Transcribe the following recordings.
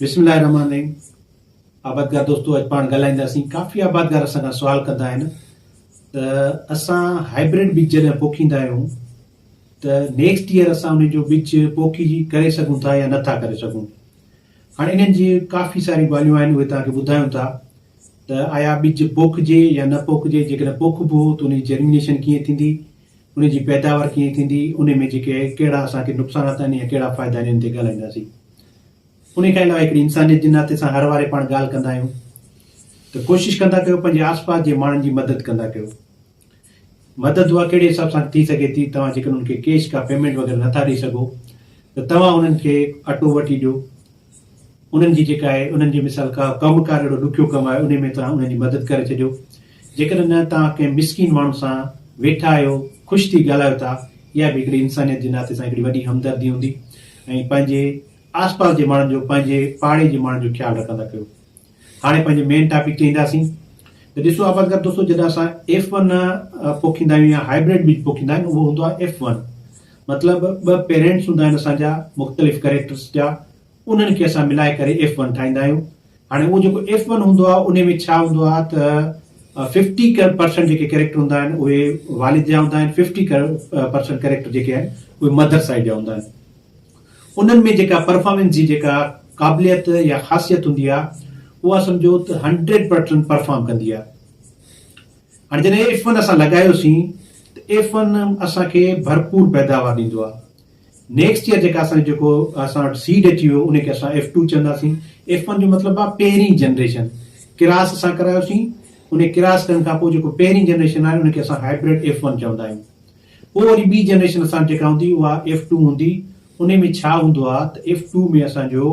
بسم الله الرحمن الرحيم آبادگار دوستو اڄ پاڻ ڳالهائينداسين ڪافي آبادگار اسان کان سوال ڪندا آهن ته اسان هائبرڊ ٻج جڏهن پوکيندا آهيون ته نيڪسٽ ايئر اسان ان جو ٻج پوکي ڪري سگهون ٿا يا نٿا ڪري سگهون هاڻي انهن جي ڪافي ساري ڳالهيون آهن اهي توهان کي ٻڌايون ٿا ته آيا ٻج پوکجي يا نه پوکجي جيڪڏهن پوکبو ته ان جي جرمينيشن ڪيئن ٿيندي ان جي پيداوار ڪيئن ٿيندي، ان ۾ جيڪي ڪهڙا اسان کي نقصانات آهن يا ڪهڙا فائدا آهن ان تي ڳالهائينداسين. ان کان علاوه هڪڙي انسانيت جي ناتي سان هر واري پاڻ ڳالهه ڪندا آهيون ته ڪوشش ڪندا ڪيو پنهنجي آس پاس جي ماڻهن جي مدد ڪندا ڪيو. مدد اها ڪهڙي حساب سان ٿي سگهي ٿي توهان جيڪڏهن انهن کي ڪيش ڪا پيمينٽ وغيره نٿا ڏئي سگهو ته توهان انهن کي اٽو وٺي ڏيو انهن جي جيڪا آهي انهن جي مثال ڪا ڪم ڪار اهڙو ڏکيو ڪم آهي انهي ۾ توهان انهن جي مدد ڪري ڇڏيو جيڪڏهن نه توهان ڪنهن مسڪين ماڻهو سان ويٺا آهيو خوش ٿي ڳالهايو ٿا اها به هڪڙي انسانيت جي ناتي سان هڪڙي وڏي همدردي هوندي ۽ پنهنجي آسپاس جي ماڻهن جو پنهنجي پاڙي جي ماڻهن جو خيال رکندا ڪيو هاڻي پنهنجي مين ٽاپڪ تي اينداسين ته ڏسو آباد گھر دوستو جڏهن اسان ايف ون پوکيندا آهيون يا هائبرڊ بيج پوکيندا آهن اهو هوندو آهي ايف ون مطلب ٻه پيرينٽس هوندا آهن اسان جا مختلف ڪريڪٽرس جا انهن کي اسان ملائي ڪري ايف ون ٺاهيندا آهيون هاڻي اهو جيڪو ايف ون هوندو آهي ان ۾ ڇا هوندو آهي ته ففٽي پرسنٽ جيڪي ڪريڪٽر هوندا آهن اهي والد جا هوندا آهن ففٽي پرسنٽ ڪريڪٽر جيڪي آهن اهي مدر سائيڊ جا هوندا آهن انهن ۾ جيڪا پرفارمنس جي جيڪا قابليت يا خاصيت هوندي آ اها سمجهو ته هنڊريڊ پرٽسنٽ پرفارم ڪندي آ. هاڻي جڏهن ايف ون اسان لڳايو سين ته ايف ون اسان کي ڀرپور پيداوار ڏيندو آ. نيڪسٽ ييئر جيڪا اسان جي جيڪو اسان وٽ سيڊ اچي ويو ان کي اسان ايف ٽو چوندا سين. ايف ون جو مطلب آ پهرين جنريشن ڪراس اسان ڪرايو سين. ان ڪراس ڪرڻ کان پوء جيڪو پهرين جنريشن آهي ان کي اسان هائبرڊ ايف ون چوندا آهيون. پوء وري ٻي جنريشن اسان وٽ جيڪا هوندي اها ايف ٽو هوندي، انهي ۾ ڇا هوندو آهي ته ايف ٽو ۾ اسان جو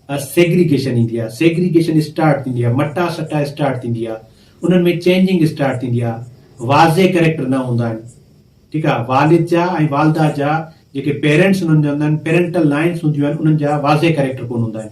سيگريگيشن ايندي آهي، سيگريگيشن اسٽارٽ ٿيندي آهي، مٽا سٽا اسٽارٽ ٿيندي آهي، انهن ۾ چينجنگ اسٽارٽ ٿيندي آهي، واضح ڪريڪٽر نه هوندا آهن، ٺيڪ آهي، والد جا ۽ والده جا جيڪي پيرنٽس انهن جا هوندا آهن، پيرنٽل لائنس هونديون آهن، انهن جا واضح ڪريڪٽر ڪونه هوندا آهن،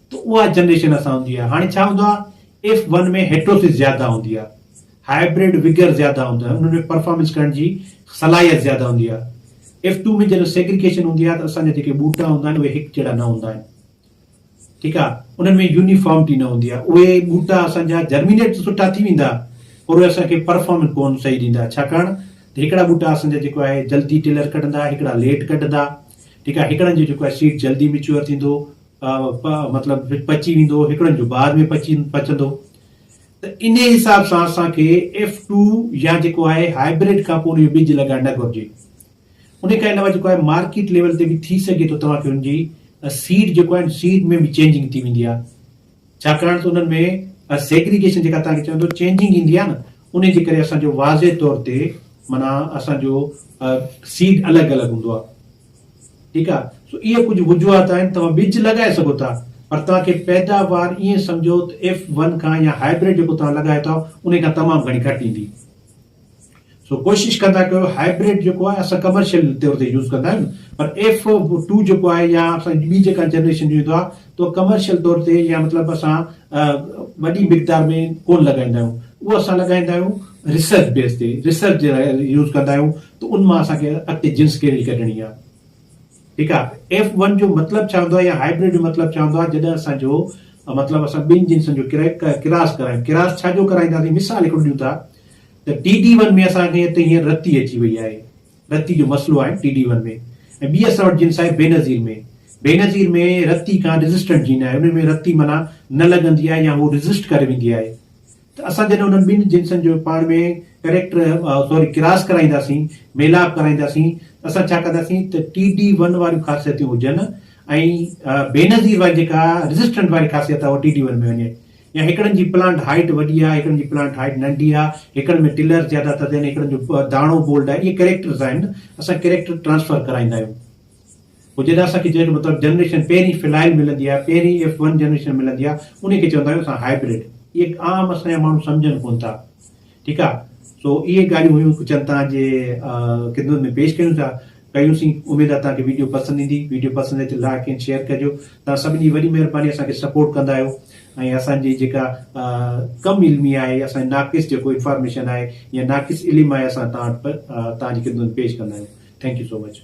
ته اها جنريشن اسان هوندي آهي هاڻي ڇا هوندو آهي ايف ون ۾ هيٽروسس زياده هوندي آهي هائبرڊ وگئر زياده هوندو آهي انهن ۾ پرفارمنس ڪرڻ جي صلاحيت زياده هوندي آهي ايف ٽو ۾ جڏهن سيگريگيشن هوندي آهي ته اسان جا جيڪي ٻوٽا هوندا آهن اهي هڪ جهڙا نه هوندا آهن ٺيڪ آهي انهن ۾ يونيفارمٽي نه هوندي آهي اهي ٻوٽا اسان جا جرمينيٽ ته سٺا ٿي ويندا پر اهي اسان کي پرفارمنس ڪون صحيح ڏيندا ڇاڪاڻ ته هڪڙا ٻوٽا اسان جا جيڪو آهي جلدي ٽيلر ڪڍندا هڪڙا ليٽ ڪڍندا ٺيڪ آهي هڪڙن جو جيڪو آهي سيڊ جلدي ميچوئر ٿيندو پ پ مطلب پچي ويندو، هڪڙن جو بعد ۾ پچي پچندو ته انهي حساب سان اسان کي ايف ٽو يا جيڪو آهي هائبرڊ کان پوء ان جو ٻج لڳائڻ نه گهرجي. انهي کان علاوه جيڪو آهي مارڪيٽ ليول تي به ٿي سگهي ٿو توهان کي ان جي سيڊ جيڪو آهي سيڊ ۾ به چينجنگ ٿي ويندي آهي ڇاڪاڻ ته انهن ۾ اها سيگريگيشن جيڪا توهان کي چون ٿو چينجنگ ايندي آهي نه انهي جي ڪري اسان جو واضح طور تي معنيٰ اسان جو سيڊ الڳ الڳ هوندو آهي ٺيڪ آهي سو اهي ڪجهه وجوهات آهن توهان ٻج لڳائي سگهو ٿا پر توهان کي پيداوار ائين سمجهو ته ايف ون کان يا هائبرڊ جيڪو توهان لڳايو ٿا انهي کان تمام گهڻي گهٽ ايندي. سو ڪوشش ڪندا ڪيو هائبرڊ جيڪو آهي اسان ڪمرشل طور تي يوز ڪندا آهيون پر ايف ٽو جيڪو آهي يا اسان جي ٻي جيڪا جنريشن جو ايندو آهي تو ڪمرشل طور تي يا مطلب اسان وڏي مقدار ۾ ڪون لڳائيندا آهيون اهو اسان لڳائيندا آهيون ريسرچ بيس تي ريسرچ جي لاء يوز ڪندا آهيون ته ان مان اسان کي اڳتي جنس ڪهڙي ڪڍڻي آهي ٺيڪ آ ايف ون جو مطلب ڇا هوندو آ يا هائبرڊ جو مطلب ڇا هوندو آ جڏهن اسان جو مطلب اسان ٻن جنسن جو ڪراس ڪرايون ڪراس ڇا جو ڪرائينداسين مثال هڪڙو ڏيون ٿا ته ٽي ڊي ون ۾ اسان کي هتي هينئر رتي اچي وئي آهي رتي جو مسئلو آهي ٽي ڊي ون ۾ ۽ ٻي اسان وٽ جنس آهي بينظير ۾ بينظير ۾ رتي کان ريزسٽنٽ جين آهي انهن ۾ رتي معنيٰ نه لڳندي آهي يا هو ريزسٽ ڪري ويندي آهي ته اسان جڏهن انهن ٻن جنسن جو پاڻ ۾ ڪريڪٽر سوري ڪراس ڪرائينداسين، ميلاپ ڪرائينداسين، ته اسان ڇا ڪنداسين ته ٽي ڊي ون واريون خاصيتون هجن ۽ بينظير واري جيڪا ريزسٽنٽ واري خاصيت آهي اها ٽي ڊي ون ۾ وڃي يا هڪڙن جي پلانٽ هائيٽ وڏي آهي هڪڙن جي پلانٽ هائيٽ ننڍي آهي، هڪڙن ۾ ٽلرز زياده ٿا ٿين، هڪڙن جو داڻو بولڊ آهي، اهي ڪريڪٽرز آهن، اسان ڪريڪٽر ٽرانسفر ڪرائيندا آهيون. پوء جڏهن اسان کي جنهن مطلب جنريشن پهرين فلائل ملندي آهي پهرين ايف ون جنريشن ملندي آهي انهي کي چوندا آهيون اسان هائبرڊ اهي عام اسان جا ماڻهو سمجهن ڪونه ٿا ٺيڪ آهي سو اهي ڳالهيون هيون ڪجهه توهان جي خدمت ۾ پيش ڪيون ٿا ڪيون سين اميد آهي توهان کي ويڊيو پسند ايندي ويڊيو پسند اچي ته لائڪ ۽ شيئر ڪجو توهان سڀني جي وڏي مهرباني اسان کي سپورٽ ڪندا آهيو ۽ اسان جي جيڪا ڪم علمي آهي اسان ناقص جيڪو انفارميشن آهي يا ناقص علم آهي اسان توهان توهان جي خدمت ۾ پيش ڪندا آهيون ٿينڪ يو سو مچ